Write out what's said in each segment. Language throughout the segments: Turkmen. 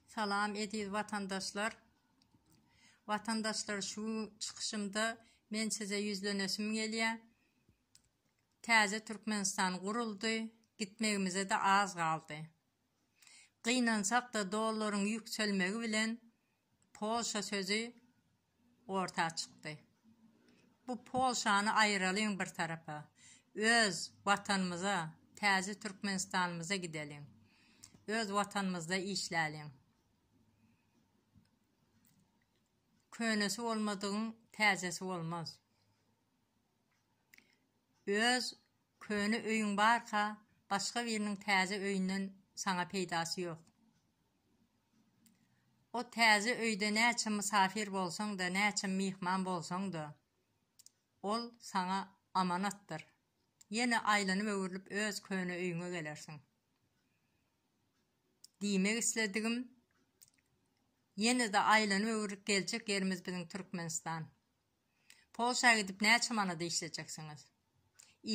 Salam eziz watandaşlar! Watandaşlar şu çykyşymda men size ýüzlenesim gelýär. Täze Türkmenistan guruldy, gitmegimize-de az galdy. Gynansak-da dollaryň ýükselmegi bilen Polşa sözi orta çykdy. Bu Polşany aýyralyň bir tarapa, öz Watanymyza, täze Türkmenistanymyza gideliň. Öz Watanymyzda işläliň. Könesi bolmadygyň täzesi bolmaz. Öz köne öýüň barka, başga biriniň täze öýünden saňa peýdasy ýok. O täze öýde näçe mysafir bolsaň-da, näçe myhman bolsaň-da, ol saňa amanatdyr. Ýene aýlanyp-öwrülip öz köne öýüňe gelersiň. Diýmek isledigim, ýene-de aýlanyp-öwrülip geljek ýerimiz biziň Türkmenistan. Polşa gidip näçe manada işlejeksiňiz?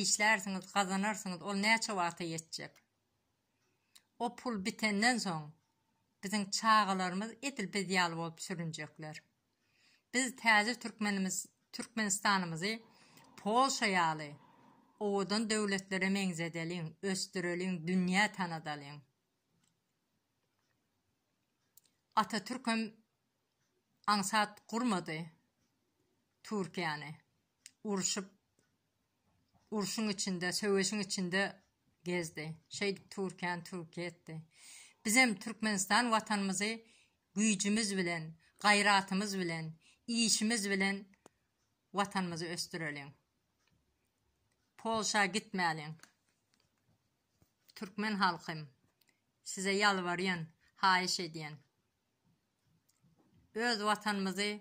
Işlärsiňiz, gazanarsyňyz, ol näçe wagta ýetjek? O pul bitenden soň, biziň çagalarymyz edil biz ýaly bolup sürünjekler. Biz täze türkmenimiz, Türkmenistanymyzy Polşa ýaly owadan döwletlere meňzedeliň, ösdüreliň, dünýä tanadalyň. Atatürkem aňsat gurmady Türkiýäni, urşup Urşuň içinde, söweşiň içinde gezdi. Şeýdip Türkiýäni Türkiýe etdi. Bizem Türkmenistan watanymyzy güýjümiz bilen, gaýratymyz bilen, işimiz bilen watanymyzy ösdüreliň. Polşa gitmäliň. Türkmen halkym, size ýalbarýan, haýyş edýän. Öz Watanymyzy,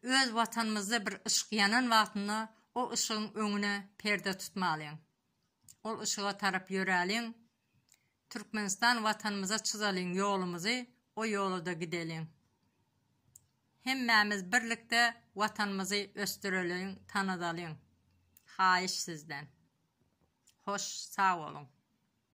öz Watanymyzda bir yşk ýanan wagtynda o yşgyň öňüne perde tutmalyň. Ol yşyga tarap ýöräliň. Türkmenistan Watanymyza çyzalyň ýolumyzy, o ýolada gideliň. Hemmämiz birlikde Watanymyzy ösdüreliň, tanazalyň. Haýyş sizden. Hoş, sag boluň.